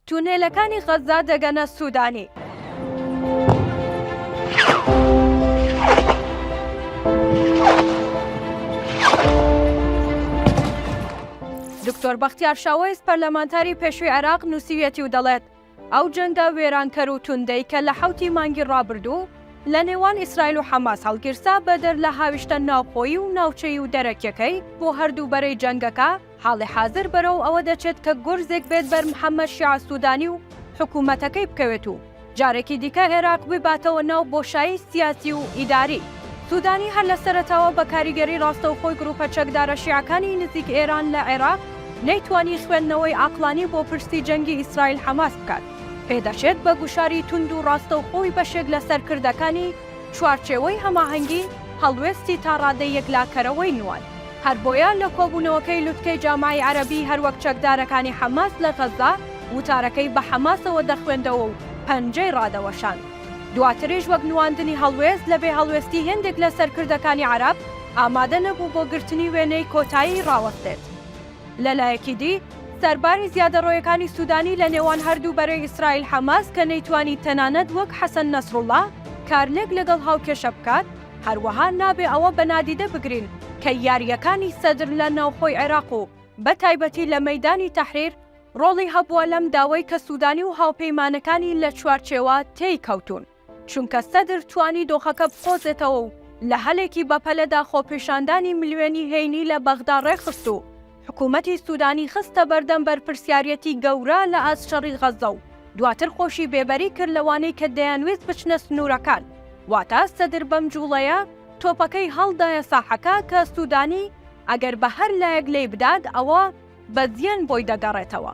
تونێلەکانی غەززە دەگەنە سوودانی. دکتۆر بەختیار شاوەیس پەرلەمانتاری پێشووی عێراق نووسیویەتی و دەڵێت، ئەو جەنگە وێرانکەر و توندەی کە لە حەوتی مانگی ڕابردوو لە نێوان ئیسرائیل و حەماس هەڵگیرسا بەدەر لە هاویشتە ناوخۆیی و ناوچەیی و دەرەکییەکەی بۆ هەردوو بەرەی جەنگەکە، حاڵی حازر بەرەو ئەوە دەچێت کە گورزێک بێت بەر محەمەد شیاع سودانی و حکوومەتەکەی بکەوێت و جارێکی دیکە ئێراق بباتەوە ناو بۆشایی سیاسی و ئیداری. سودانی هەر لە سەرەتاوە بە کاریگەری ڕاستەوخۆی گرووپە چەکدارە شیعەکانی نزیک ئێران لە عێراق نەیتوانی خوێندنەوەی عەقڵانی بۆ پرسی جەنگی ئیسرائیل حەماس بکات، پێدەچێت بە گوشاری توند و ڕاستەوخۆی بەشێک لە سەرکردەکانی چوارچێوەی هەماهەنگی هەڵوێستی تاڕادەی یەکلاکەرەوەی نواند. هەربۆیە لە کۆبوونەوەکەی لوتکەی جامعەی عەرەبی هەروەک چەکدارەکانی حەماس لە غەززە وتارەکەی بە حەماسەوە دەخوێندەوە و پەنجەی ڕادەوەشاند. دواتریش وەک نواندنی هەڵوێست لە بێ هەڵوێستی هێندێک لە سەرکردەکانی عەرەب ئامادە نەبوو بۆ گرتنی وێنەی کۆتایی ڕاوەستێت. لە لایەکی دی سەرباری زیادەڕۆیەکانی سودانی لە نێوان هەردوو بەرەی ئیسرائیل حەماس کە نەیتوانی تەنانەت وەک حەسەن نەسروڵڵا کارلێک لەگەڵ هاوکێشە بکات، هەروەها نابێ ئەوە بە نادیدە بگرین کە یارییەکانی سەدر لە ناوخۆی عێراق و بە تایبەتی لە مەیدانی تەحریر ڕۆڵی هەبووە لەم داوەی کە سوودانی و هاوپەیمانەکانی لە چوارچێوە تێی کەوتوون، چونکە سەدر توانی دۆخەکە بقۆزێتەوە و لە هەلێکی بەپەلەدا خۆپێشاندانی ملیۆنی هەینی لە بەغدا ڕێکخست و حکومەتی سودانی خستە بەردەم بەرپرسیاریەتی گەورە لە ئاست شەڕی غەززە و دواتر خۆشی بێبەری کرد لەوانەی کە دەیانویست بچنە سنوورەکان، واتە سەدر بەم جوڵەیە تۆپەکەی هەڵدایە ساحەکە کە سودانی ئەگەر بە هەر لایەک لێی بدات ئەوا بە زیان بۆی دەگەڕێتەوە.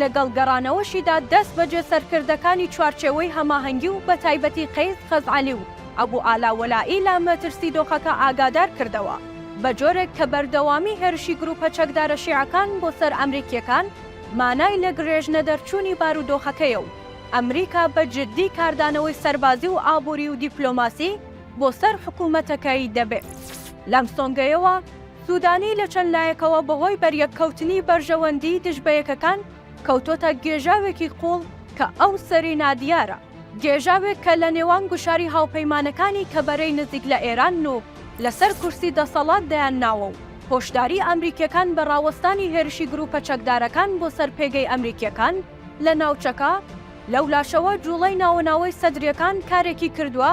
لەگەڵ گەڕانەوەشیدا دەست بەجێ سەرکردەکانی چوارچێوەی هەماهەنگی و بەتایبەتی قەیس خەزعەلی و ئەبو ئالا وەلائی لە مەترسی دۆخەکە ئاگادار کردەوە بە جۆرێک کە بەردەوامی هێرشی گرووپە چەکدارە شیعەکان بۆ سەر ئەمریکییەکان مانای لە گرێژ نەدەرچوونی بارودۆخەکەیە و ئەمریکا بە جددی کاردانەوەی سەربازی و ئابووری و دیپلۆماسی بۆ سەر حکوومەتەکەی دەبێت. لەم سۆنگەیەوە سودانی لە چەند لایەکەوە بەهۆی بەریەککەوتنی بەرژەوەندیی دژ بە یەکەکان کەوتۆتە گێژاوێکی قوڵ کە ئەو سەری نادیارە، گێژاوێک کە لە نێوان گوشاری هاوپەیمانەکانی کە بەرەی نزیک لە ئێرانن و لەسەر کورسی دەسەڵات دەیان ناوە و هۆشداریی ئەمریکییەکان بە ڕاوەستانی هێرشی گرووپە چەکدارەکان بۆ سەر پێگەی ئەمریکییەکان لە ناوچەکە، لەولاشەوە جووڵەی ناوەناوەی سەدرییەکان کارێکی کردووە،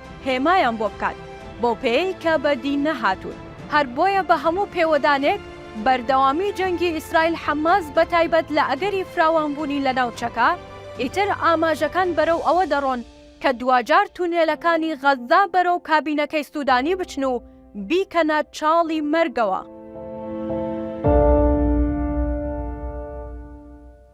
هێمایان بۆ بکات، بەو پێیەی کە بە دین نەهاتوون. هەر بۆیە بە هەموو پێوەدانێک، بەردەوامیی جەنگی ئیسرائیل حەماس بە تایبەت لە ئەگەری فراوانبوونی لە ناوچەکە، ئیتر ئاماژەکان بەرەو ئەوە دەڕۆن کە دواجار تونێلەکانی غەززە بەرەو کابینەکەی سوودانی بچن و بیکەنە چاڵی مەرگەوە.